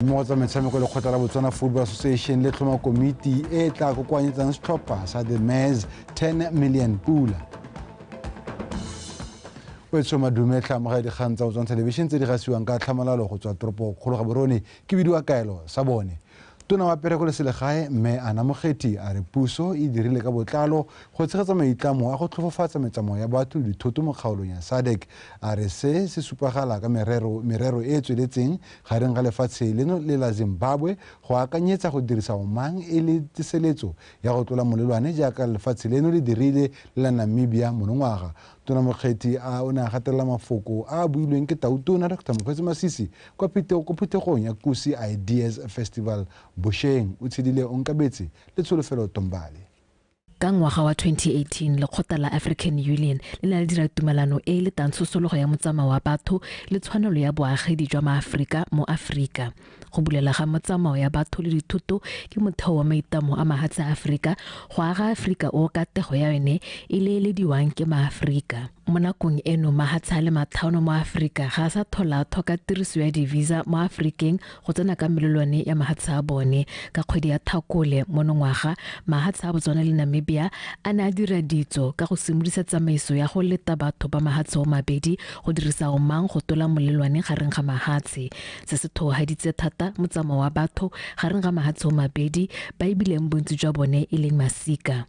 mmogo tsa metshameko lekgotla la botswana football association le tlhoma komiti e e tla kokoanyetsang setlhopha sa the mairs 10 million pula o etsho madume tlhamoga dikgang tsa botswana television tse di gasiwang ka tlhamalalo go tswa toropo kgolo ga borone ke bidiwa kaelo sa bone tona wa pereko le selegae mme ana mokgethi a re puso e dirile ka botlalo go tshegetsa maitlamo a go tlhofofatsa metsamao ya batho le dithoto mo kgaolong ya sadec a re se se supagala ka merero e e tsweletseng Gareng ga lefatshe leno le la Zimbabwe go akanyetsa go dirisa Omang e le tseseletso ya go tlola molelwane jaaka lefatshe leno le dirile le la Namibia monongwaga, Tona Mokgethi a o ne a gatelela mafoko a a builweng ke Tautona Doctor Mokgweetsi Masisi kwa ko phuthegong ya Kusi Ideas Festival bosheng. O tshedile onkabetse le Tsholofelo Tombale. Ka ngwaga wa 2018, lekgotla la African Union le ne la dira tumalano e e letang tsosologo ya motsamao wa batho le tshwanelo ya boagedi jwa Maaforika mo Aforika. Go bulela ga motsamao ya batho le dithoto ke motheo wa maitlamo a mahatshe a Aforika go aga Aforika o katego ya yone e leelediwang ke Maaforika. Mo nakong eno, mahatshe a le mathano mo Afrika ga a sa tholathwa ka tiriso ya di-visa mo Afrikeng go tsena ka melelwane ya mahatshe a bone. Ka kgwedi ya Thakole monongwaga, mahatshe a Botswana le Namibia a ne a dira ditso ka go simolisa tsamaiso ya go leta batho ba mahatshe omabedi go dirisa omang go tola molelwane gareng ga mahatshe, se se thohaditse thata motsamao wa batho gareng ga mahatshe omabedi ba e bileng bontsi jwa bone e leng masika.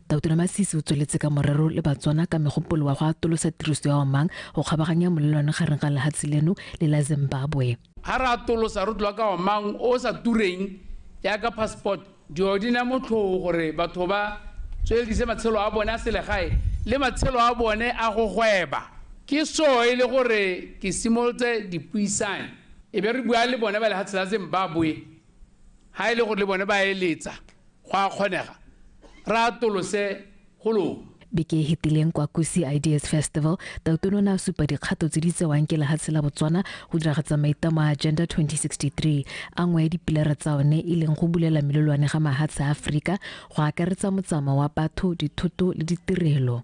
Dautura Masisi o tsweletse ka morero le Batswana ka megopolo wa go atolosa tiriso ya omang go kgabaganya molelwane gareng ga lehatshe leno le la Zimbabwe. Ha re atolosa re tloga ka omang o o sa tureng jaaka passport, dilo di na motlhoo gore batho ba tsweledise matshelo a bone a selegae le matshelo a bone a go gweba. Ke so e le gore ke simolotse dipuisanyo e be re bua le bone ba lehatshe la Zimbabwe ga e le gore le bone ba eletsa go a kgonega re atolose go lona beke e hetileng kwa kusi ideas festival tautono o ne a supa dikgato tse di tsewang ke lehatshe la botswana go diragatsa maitamo a agenda 2063 a nngwe ya dipilara tsa one e leng go bulela melolwane ga mahatshe a aforika go akaretsa motsamao wa batho dithoto le ditirelo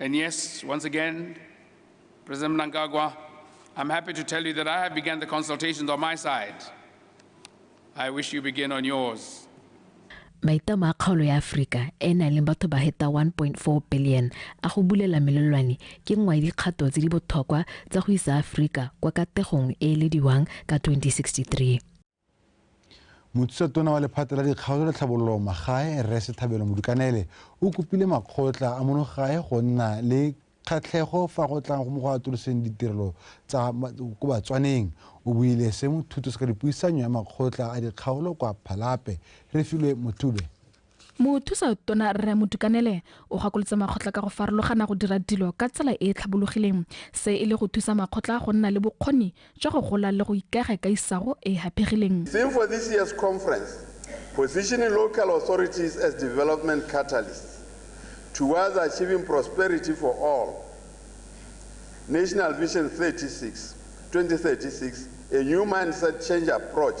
And yes, once again, President Mnangagwa, I'm happy to tell you that I have begun the consultations on my side. I wish you begin on yours. maitamo a kgaolo ya aforika e e nang le batho ba heta 1.4 billion a go bulela melelwane ke nngwe ya dikgato tse di botlhokwa tsa go isa aforika kwa kategong e e lediwang ka 2063 mothusa tona wa lephata la dikgaolo le tlhabololo magae rre sethabelo modukanele o kopile makgotla a monogae go nna le kgatlhego fa go tlang mo go atoloseng ditirelo tsa ko batswaneng o buile se mothuto se ka dipuisanyo ya makgotla a dikgaolo kwa phalape re filwe mothube Mothusa Tona Rre Modukanele o gakolotse makgotla ka go farologana go dira dilo ka tsela e e tlhabologileng, se e le go thusa makgotla go nna le bokgoni jwa go gola le go ikaega ka isago e e haphegileng. Theme for this year's conference, Positioning Local Authorities as Development Catalysts Towards Achieving Prosperity for All, National Vision 36, 2036, A New Mindset Change Approach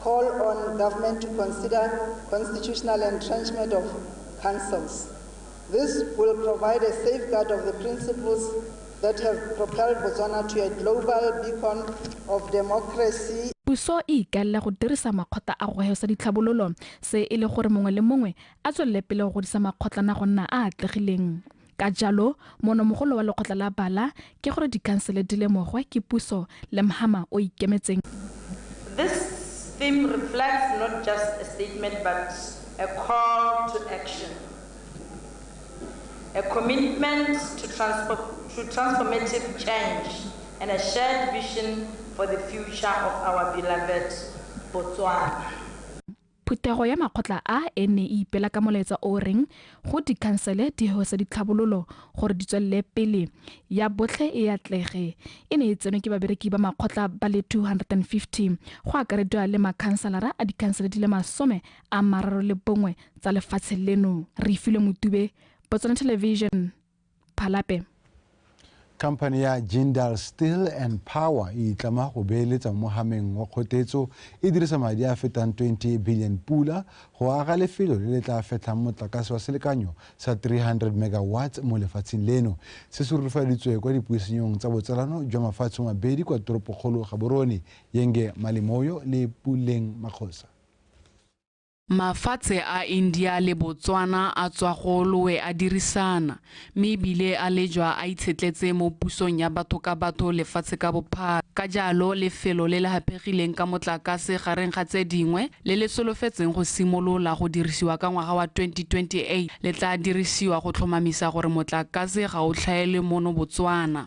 Call on government to consider constitutional entrenchment of councils. This will provide a safeguard of the principles that have propelled Botswana to a global beacon of democracy. Puso e ikaelela go dirisa makgotla a go heosa ditlhabololo, se e le gore mongwe le mongwe a tswelele pele go godisa makgotlana go nna a atlegileng. Ka jalo, moonomogolo wa lekgotla la bala ke gore dikhansele di lemogwe ke puso le mhama o ikemetseng. This theme reflects not just a statement but a call to action, a commitment to to transformative change and a shared vision for the future of our beloved Botswana. Phuthego ya makgotla a e ne e ipela ka molaetsa o o reng go dikhansele di hose ditlhabololo gore di tswelele pele, ya botlhe e atlege. E ne e tsenwe ke babereki ba makgotla ba le 250, go akarediwa le makhanselara a dikhansele di le masome a mararo le bongwe tsa lefatshe leno. Reifilwe Motube, Botswana Television, phalape. Khamphane ya Jindal Steel and Power e itlama go beeletsa mo mogameng wa kgotetso e dirisa madi a fetang 20 billion pula go aga lefelo le le tla fetlhang motlakase wa selekanyo sa 300 megawatts mo lefatsheng leno. Se se rurufaditswe kwa dipuisenyong tsa botsalano jwa mafatshe mabedi kwa toropokgolo Gaborone, Yenge Malimoyo le Puleng Makgosa. Mafatshe a India le Botswana a tswa golowe a dirisana, mme e bile a lejwa a itshetletse mo pusong ya batho ka batho lefatshe ka bophara. Ka jalo, lefelo le le hapegileng ka motlakase gareng ga tse dingwe, le le solofetseng go simolola go dirisiwa ka ngwaga wa 2028, le tla dirisiwa go tlhomamisa gore motlakase ga o tlhaelwe mono Botswana.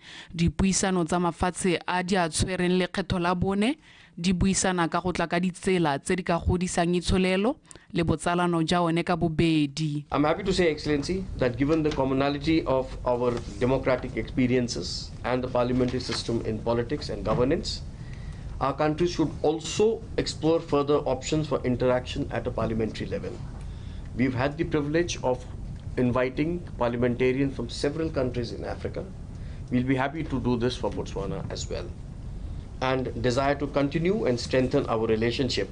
Dipuisano tsa mafatshe a di a tshwereng lekgetho la bone di buisana ka go tla ka ditsela tse di ka godisang itsholelo le botsalano ja one ka bobedi. I'm happy to say, Excellency, that given the commonality of our democratic experiences and the parliamentary system in politics and governance, our countries should also explore further options for interaction at a parliamentary level. We've had the privilege of inviting parliamentarians from several countries in Africa. We'll be happy to do this for Botswana as well, and desire to continue and strengthen our relationship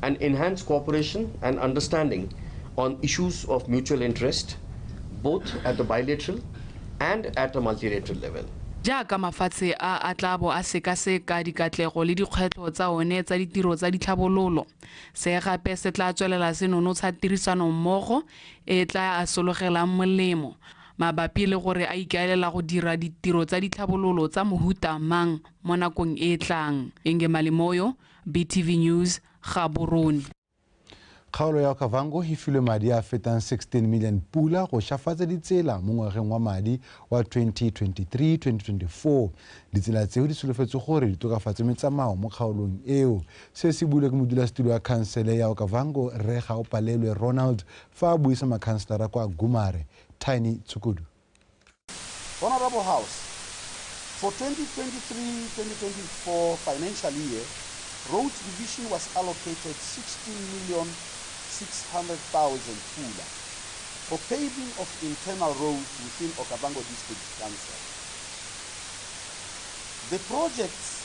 and enhance cooperation and understanding on issues of mutual interest, both at the bilateral and at a multilateral level. jaaka mafatshe a a tla bo a sekaseka dikatlego le dikgwetlho tsa one tsa ditiro tsa ditlhabololo se gape se tla tswelela se nonotsha tirisanommogo e tla a sologelang molemo mabapi le gore a ikaelela go dira ditiro tsa ditlhabololo tsa mohuta mang mo nakong e e tlang. Ingemali Moyo, BTV News, Gaborone. Kgaolo ya Okavango e filwe madi a fetang 16 million pula go shafatsa ditsela mo ngwageng wa madi wa 2023-2024. Ditsela tseo di solofetswe gore di tokafatse metsamao mo kgaolong eo. Se se builwe ke modulasetilo wa khansele ya Okavango, Rre Gaopalelwe Ronald, fa a buisa makhanselara kwa Gumare, Tiny Tshukudu. Honourable House, For 2023-2024 financial year, Roads Division was allocated 16 million 600,000 pula for paving of internal roads within Okavango District Council. The projects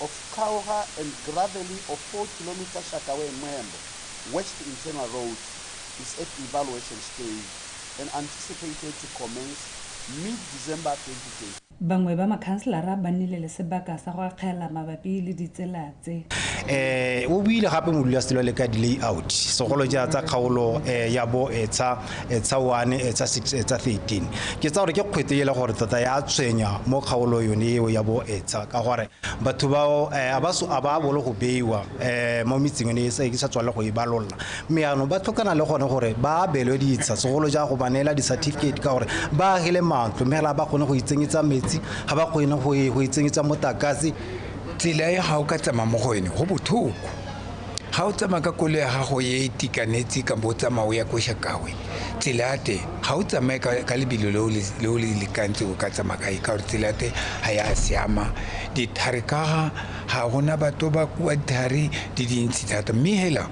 of Kauha and Gravely of 4 km Shakaway Mwembo West Internal Road is at evaluation stage and anticipated to commence mid-December 2022. Bangwe ba makhanselara ba nnile le sebaka sa go akgela mabapi le ditsela tse. O buile gape modulasetilo le ka di-layout segolo ja tsa kgaolo ya bo Etsha. etsa 1 etsa 6 etsa 13 ke tsa gore ke kgwete e le gore tota ya tshwenya mo kgaolo yone eo ya bo etsa ka gore batho bao eh, a ba so- a ba bolo go beiwa um mo metseng ene e sa- ke sa tswale go e balolla mme yaanong ba tlhokana le gone gore ba abelwe ditsha segolo ja go ba neela di-certificate ka gore ba agile matlo mme fela ga ba kgone go itsenyetsa metsi ga ba kgone go e- go itsenyetsa motakase tsela e ga o ka tsamaya mo go ene go bothoko ga o tsamaya ka kolo ya gago e itekanetse ka bo tsamao ya ko shakawe tsela ya teng ga o tsamaye ka lebelo le o le lekantse o ka tsamaya kae ka gore tsela ya teng ga ya siama dithari kaga ga gona batho ba kua dithari di dintsi thata mme hela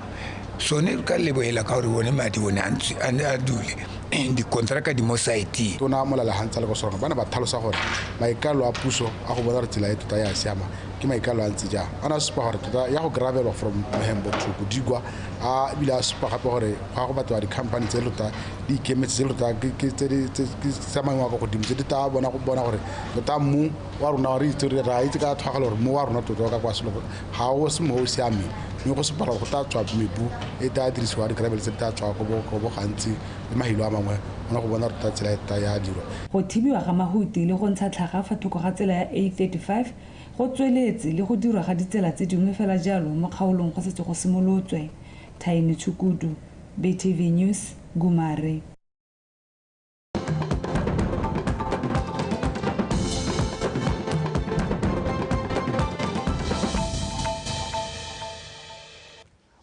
sone ka lebogela ka gore one madi one a dule dikontraka di mo siteng tona molalagantsa le go sona ba ne ba thalosa gore maikalo a puso a go bona gore tsela e tota ya siama ke maikalo a ntse jang a ne a supa gore tota ya go gravelwa from mohembo to bodigwa a ebile a supa gape gore go ya go batliwa di-company tse tota di ikemetse tse tota ke tsa maemo a kwa godimo tse di tla bona go bona gore tota mmu wa rona re itse re ra itse ka thwagalo gore mmu wa rona tota ka kwa selo ga o se mo o siameng mme go sepala go tla tswa mebu e tla dirisiwa di-gravel tse di tla tswa go bo gantsi le mahilo a mangwe ona go bona tota tsela e tota ya dirwa go thibiwa ga mahuti le go ntsha tlhaga fa thoko ga tsela ya a 35 Go tsweletse le go dirwa ga ditsela tse dingwe fela jalo mo kgaolong go setse go simolotswe. Thaini Tshukudu, BTV News, Gumare.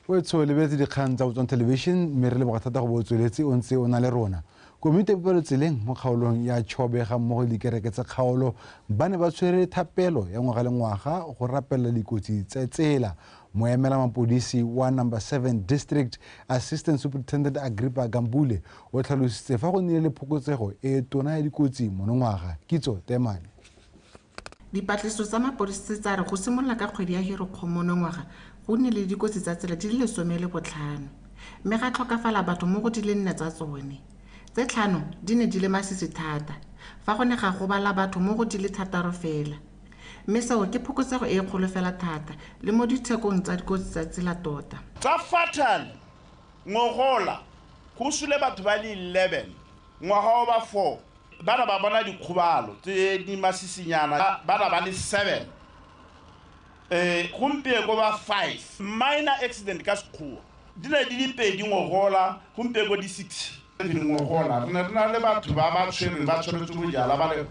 Wetsho lebeletse dikgang tsa Botswana Television mme re leboga thata go bo o tsweletse o ntse o na le rona. Komiti ya Bopelotseleng mo kgaolong ya Chobe ga mmogo le dikereke tsa kgaolo ba ne ba tshwere thapelo ya ngwaga le ngwaga go rapelela dikotsi tsa tsela. Moemela mapodisi wa number 7 district Assistant Superintendent Agrippa Gambule o tlhalositse fa go nnile le phokotsego e tona ya dikotsi monongwaga. Kitso Temane. Dipatlisiso tsa mapodisi tsa re go simolola ka kgwedi ya Herekgong monongwaga go nnile le dikotsi tsa tsela di le lesome le botlhano mme ga tlhokafala batho mo go di le nne tsa tsone. Tse tlhano di ne di le masisi thata fa go ne ga gobala batho mo go di le thataro fela mme seo ke phokotsego e kgolo fela thata le mo dithekong tsa dikotsi tsa tsela tota. Tsa fatal ngogola go sule batho ba le 11 ngwaga o ba 4. Ba na ba bona dikgobalo tse di masisinyana, ba na ba le seven, gompieko ba five. Minor accident ka Sekgowa. Di ne di le pedi ngogola, gompieko di six. Ngogola re ne re na le batho ba ba tshwerweng ba tshwaretswe bojala ba le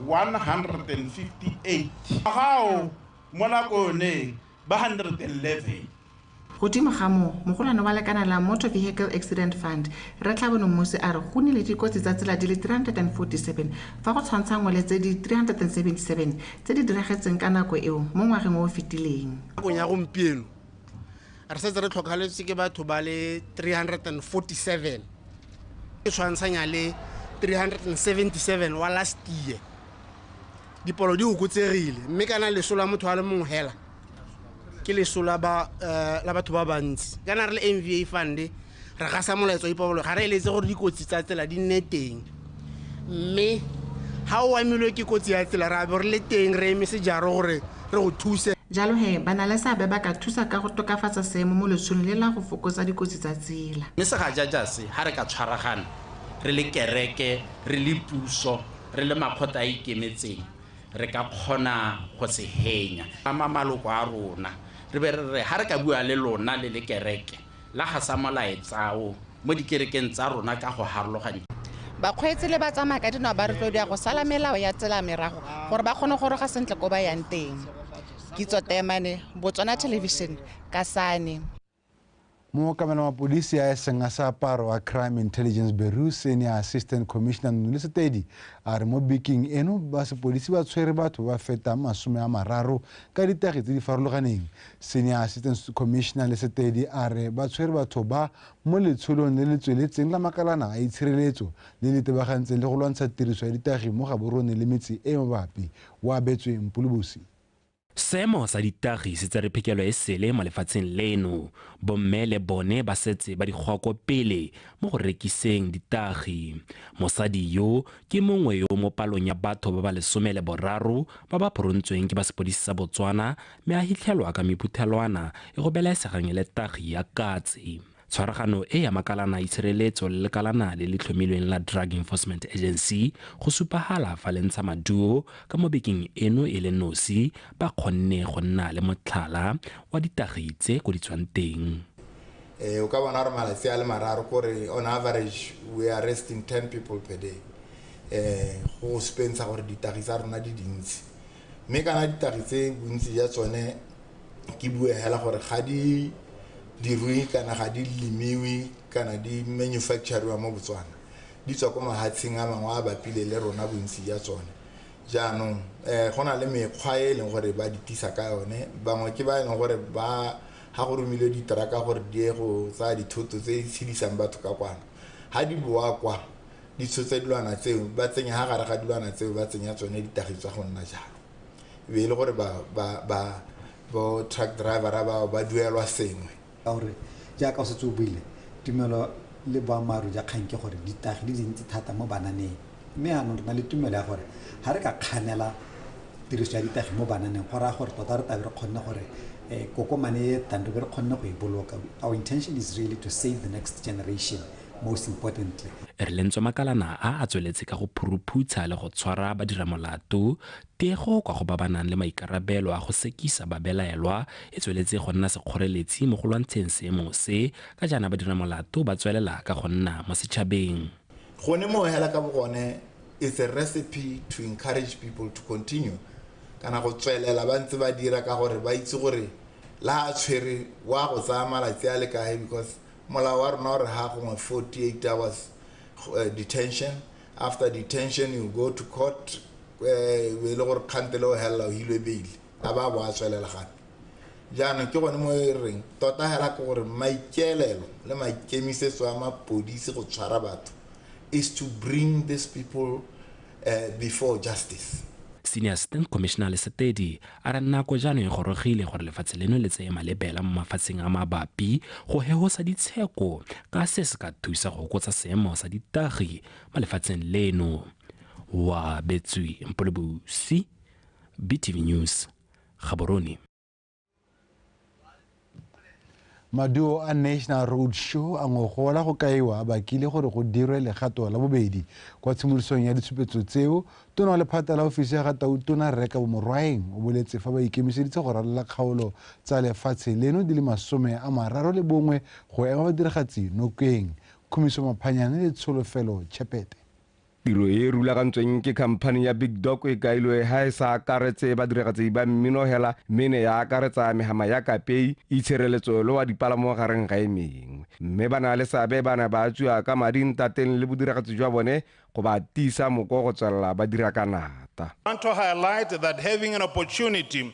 one hundred and fifty eight, ngwaga o mo nako yone ba hundred and eleven. Godimo ga moo, mogolwane wa lekana la Motor Vehicle Accident Fund, Rre Tlhabono Mmusi a re go nnile dikotsi tsa tsela di le 347 fa go tshwantshangwa le tse di 377 tse di diragetseng ka nako eo mo ngwageng o o fetileng. Nakong ya gompieno, re setse re tlhokafaletswe ke batho ba le 347 e tshwantshanya le 377 wa last year. Dipalo di okotsegile mme kana leso la motho a le mongwe hela ke leso la ba eh, la batho ba bantsi kana re le nva fund re gasa molaetso wa ipabolo ga re eletse gore dikotsi tsa tsela di nne teng mme ga o amilwe ke kotsi ya tsela re a bo re le teng re eme sejaro gore re go thuse Jalo he, ba na le seabe ba ka thusa ka go tokafatsa seemo mo lesong le la go fokotsa dikotsi tsa tsela. Mme segajaja se, ga re ka tshwaragana re le kereke, re le puso, re le makgotla a ikemetseng re ka kgona go se henya ama maloko a rona re be re re ha re ka bua le lona le le kereke la ga sa molaetsao mo dikerekeng tsa rona ka go harologanya Bakgweetsi le batsamaya ka dinao ba rotloediwa go sala melao ya tsela merago gore ba kgone go roga sentle ko ba yang teng. Kitso Teemane, Botswana Television, Kasane. mookamela mapodisi a eseng a seaparo a crime intelligence bureau senior assistant commissioner nole setedi a re mo beking eno ba sepodisi ba tshwere batho ba fetang masome a mararo ka ditagi tse di farologaneng senior assistant commissioner le setedi a re ba tshwere batho ba mo letsholong le le tsweletseng la makalana a itshireletso le le tebagantseng le go lwantsha tiriso ya ditagi mo gaborone le metse e mabapi o abetswe mpolobosi Seemo sa ditagi se tsere phekelo e sele mo lefatsheng leno. Bomme le bone ba setse ba di goko pele mo go rekiseng ditagi. Mosadi yo ke mongwe yo mo palong ya batho ba ba lesome le boraro ba ba phorontsweng ke ba sepodisi sa Botswana mme a hitlhelwa ka mephuthelwana e go belaesegang e le tagi ya katse. Tshwaragano e ya makalana itshireletso le lekalana le le tlhomilweng la Drug Enforcement Agency go supagala fa le ntsha maduo ka mo bekeng eno e le nosi ba kgonne go nna le motlhala wa ditagi tse ko di tswang teng. Eh, o ka bona gore malatsi a le mararo kore on average we are arresting 10 people per day eh go supentsha gore ditagi tsa rona di dintsi. Mme kana ditagi tse bontsi ja tsone ke bue hela gore ga di dirwe kana ga di lemiwe kana di manufacture-riwa mo Botswana, di tswa ko mahatsheng a mangwe a bapile le rona bontsi ja tsone. Jaanong go na le mekgwa e e leng gore ba di tisa ka yone, bangwe ke ba e leng gore ba ha go romilwe di-truck-a gore di ye go tsaya dithoto tse di tshedisang batho ka kwano, ha di boa kwa ditshotshe dilwana tseo ba tsenya ha gare ga dilwana tseo ba tsenya tsone ditagi tsa go nna jalo e be e le gore ba ba ba bo truck driver ba ba duelwa sengwe ka gore jaaka o setse o buile tumelo le boammaaruri ja kgang ke gore ditagi di dintsi thata mo bananeng mme anong re na le tumelo ya gore ga re ka kganela tiriso ya ditagi mo bananeng go raya gore tota re tabe re kgonne gore um kokomane e tang re be re kgonne go e boloka our intention is really to save the next generation most importantly. Rlentswa Makalana a a tsweletse ka go phuruphutsha le go tshwara badiramolato. Tego kwa go ba ba nang le maikarabelo a go sekisa babelaelwa e tsweletse go nna sekgoreletsi mo go lwantsheng seemo se, ka jaana badiramolato ba tswelela ka go nna mo setšhabeng. Gone moo hela ka bogone it's a recipe to encourage people to continue kana go tswelela ba ntse ba dira ka gore ba itse gore le ha a tshwere wa go tsaya malatsi a le kae because molao wa rona o re ha gongwe 48 hours uh, detention after detention you go to court eh, e le gore kgantele o helela o hilwe beile a ba bo a tswelela gape jaanong ke gone mo e reng tota hela ke gore maikeelelo le maikemisetso a mapodisi go tshwara batho is to bring these people before justice. Senior Assistant Commissioner Lesepedi a re nako jaanong e gorogile gore lefatshe leno le tseye malebela mo mafatsheng a mabapi go hegosa ditsheko ka se se ka thusa go hokotsa seemo sa ditagi mo lefatsheng leno. Wa betswe Mpolobusi, BTV News, Gaborone. maduo a national road show a ngogola go kaiwa a bakile gore go dirwe legato la bobedi kwa tshimolosong ya ditshupetso tseo tona wa lephata la ofisi ya ga tautona reka bomorwaeng o boletse fa ba ikemiseditse go ralola kgaolo tsa lefatshe leno di le masome a mararo le bongwe go ema badiragatsi nokeng khumiso maphanyane le tsholofelo tšhepete Tiro e e rulagantsweng ke khamphani ya Big Dog e kailwe ha e sa akaretse badiragatsi ba mmino hela mme e ne ya akaretsa megama ya kapei, itshireletso le wa dipalamo gareng ga e mengwe. Mme ba na le seabe ba ne ba tswiwa ka madi ntateng le bodiragatsi jwa bone go ba tiisa moko go tswelela ba dira ka nata. Ntho highlighted that having an opportunity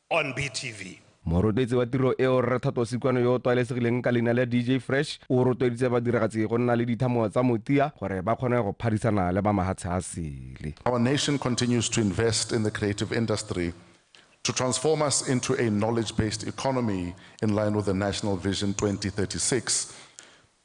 on BTV. Morotloetsi wa tiro eo, Rre Thato Sikwano yo o tlwaelesegileng ka leina la DJ Fresh, o rotloeditse badiragatsi go nna le dithamo tsa motia gore ba kgone go phadisana le ba mahatshe a sele. Our nation continues to invest in the creative industry to transform us into a knowledge-based economy in line with the National Vision 2036.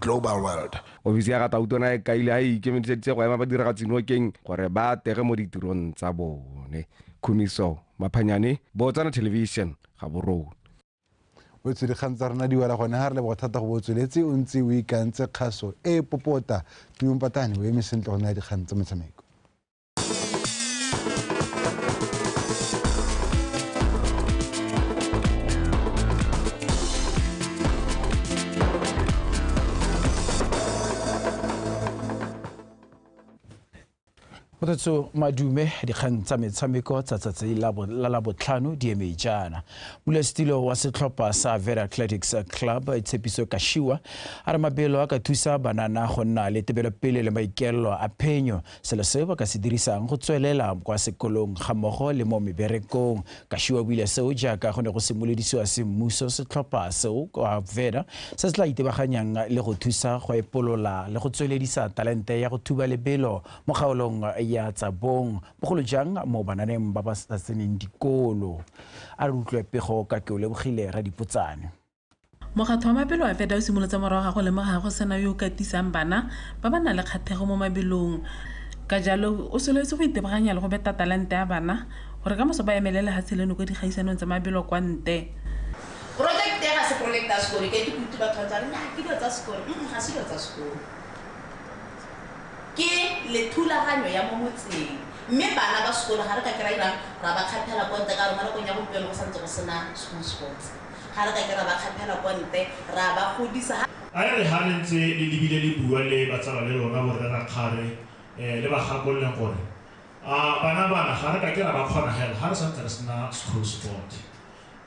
Global World. Ofisi ya ga Tautona e kaile a e ikemiseditse go ema badiragatsi nokeng gore ba atege mo ditirong tsa bone. Khumiso Maphanyane, Botswana Television, Gaborone. o tswile kgang tsa rona di wela gone ga re leboga thata go bo o tsweletse o ntse o ikantse kgaso e popota tuompatane o eme sentle go naya dikgang tsa metshameko kgothatso madume dikgang tsa metshameko tsa tsatsi la labotlhano di eme jaana molesetilo wa setlhopha sa vera athletics club tshepiso kashiwa a re mabelo a ka thusa banana go nna le tebelopele le maikaelelo a phenyo selo seo ba ka se dirisang go tswelela kwa sekolong ga mmogo le mo meberekong. Kashiwa o buile seo jaaka go ne go simolodisiwa semmuso setlhopha seo kwa Veda se se tla itebaganyang le go thusa go epolola le go tsweledisa talente ya go thuba lebelo mo kgaolong ya tsa bong, bogolo jang mo bananeng ba ba sa tseneng dikolo. A re utlwe pego ka ke o lebogile Radipotsane. Mokgatlho wa Mabelo a Feta o simolotse morago ga go lemoga go sena yo o katisang bana ba ba nang le kgathego mo mabelong, ka jalo o solofetse go itebaganya le go beta talente ya bana gore ka moso ba emele lehatshe leno kwa dikgaisanong tsa mabelo kwa nte. Porojekete e ga se porojekete ya sekolo, ke kutu batho ba ntse ba re nnyaa ke dilo tsa sekolo, mm ga se dilo tsa sekolo. Ke lethulaganyo ya mo motseng mme bana ba sekolo ga re ka kry-a ra ba kgathela ko ntle ka gore mo nakong ya gompieno go santse go sena school sports. Ga re ka ke ra ba kgaphela ko nte, ra ba godisa. A e re ha le ntse le lebile le bua le batsala le lona borre rakgare, le ba gakolole gore, A bana bana, ga re ka ke ra ba kgona hela ha re sa ntse re sena school sport.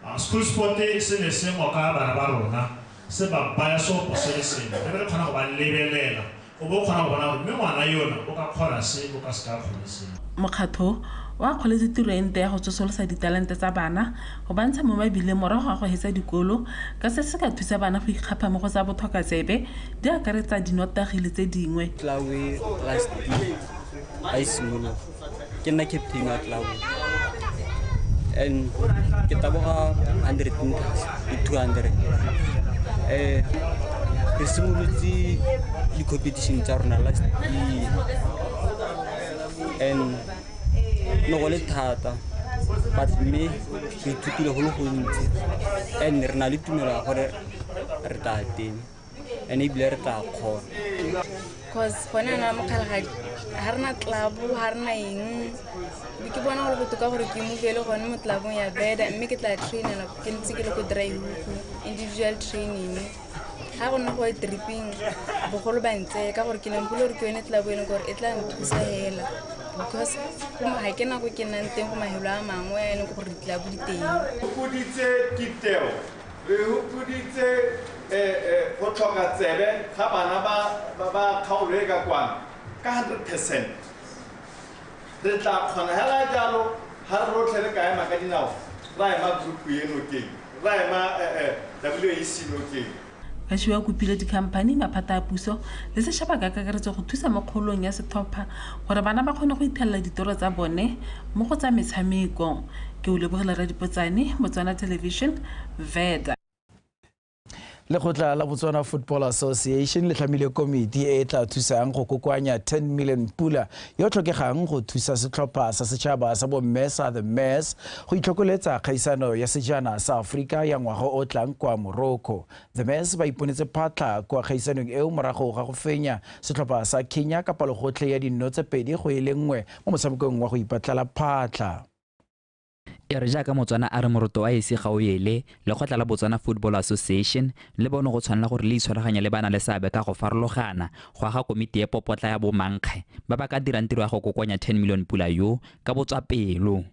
A school sport se ne se ngoka bana ba rona, se ba baya seopo se le sengwe, re be re kgona go ba lebelela O bo o kgona go bona gore mme ngwana yono o ka kgona se, o ka se ka a kgone se. Mokgatlho o akgoletse tiro e ntle ya go tsosolosa ditalente tsa bana, go ba ntsha mo mabileng morago ga go hetsa dikolo, ka se se ka thusa bana go ikgapha mo go tsa bothokatsebe, di akaretsa dinotagi le tse dingwe. Tlaoe Trust Deed a e simologa. ke nna captain wa club and ke taboga 100 meters le 200 eh re simolotse di-competition tsa rona last year and ne go le thata but mme re ithutile go le gontsi and re na le tumelo ya gore re tla teng and ebile re tla kgona cause gone ana mokgalagadi ga rena tlabo ga rena eng be ke bona gore botoka gore ke mobele gone mo tlabong ya beda mme ke tla trainela ke ntse ke le ko draiuku individual training ga go nna go e tripping bogolo ba ntse ka gore ke lempole gore ke yone tlabo e leng gore e tla nthusa fela because ga ke nako ke nnang teng go mahelo a mangwe a e leng gore ditlabo di teng Re hupuditse go tlhoka tsebe ga bana ba kgaolo e ka kwano ka 100 percent. Re tla kgona hela jalo ha re rotlhe re ka ema ka dinao ra ema group e nokeng, ra ema WAC nokeng. Bashiwa o kopile dikhamphani, maphata a puso le seshaba ka kakaretso go thusa mo kgaolong ya Setlhopha Gore bana ba kgone go ithelela ditoro tsa bone mo go tsa metshameko. Ke o lebogela Radipotsane, Botswana Television, Veda. Lekgotla la Botswana Football Association le tlhamile komiti e e tla thusang go kokoanya 10 million pula yo tlhokegang go thusa setlhopha sa setšhaba sa bomme sa The Mares go itlhokoletsa kgaisano ya sejana sa Aforika ya ngwaga o tlang kwa Morocco. The Mess ba iponetse phatlha kwa kgaisanong eo morago ga go fenya setlhopha sa Kenya ka palogotlhe ya dinno tse pedi go e le nngwe mo motshamekong wa go ipatlela phatlha. E re jaaka Motswana a re moroto a ese ga o ele, lekgotla la Botswana Football Association le bone go tshwanela gore le itshwaraganye le ba na le seabe ka go farologana go aga komiti e popotla ya bomankge ba ba ka dirang tiro ya go kokoanya 10 million pula yo ka botswapelo.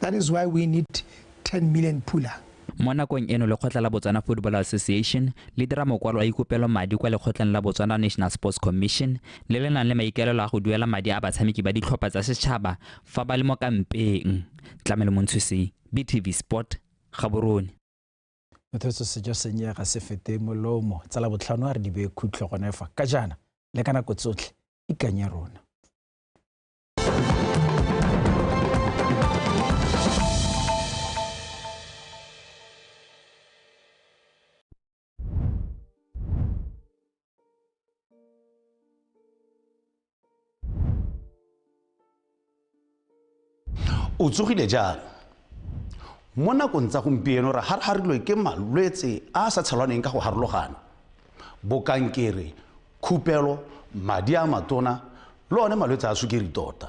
That is why we need 10 million pula. Mo nakong eno lekgotla la Botswana Football Association le dira mokwalo a ikopelo madi kwa lekgotleng la Botswana National Sports Commission le le nang le maikaelelo a go duela madi a batshameki ba ditlhopha tsa setšhaba fa ba le mo kampeng. Tlamelo Montshusi, BTV Sport, Gaborone. Mothetso sejo senye ga se fete molomo tsa la botlhano a re dibe khutlo gone fa ka jaana le ka nako tsotlhe ikanye rona. o tsogile jang mo nakong tsa gompieno re harharilwe ke malwetse a a sa tshelwaneng ka go harologana bokankere khupelo, madi a matona le one malwetse a sukiri tota.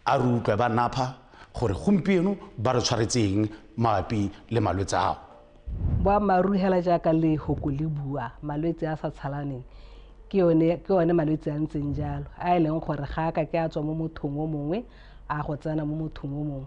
A re utlwe ba napha gore gompieno ba re tshwaretseng mabapi le malwetse ao. Boammaaruri hela jaaka le hoko le bua malwetse a sa tshalaneng ke one ke one malwetse a ntseng jalo a e leng gore ga a ka ke a tswa mo mothong o mongwe a go tsena mo mothong o mongwe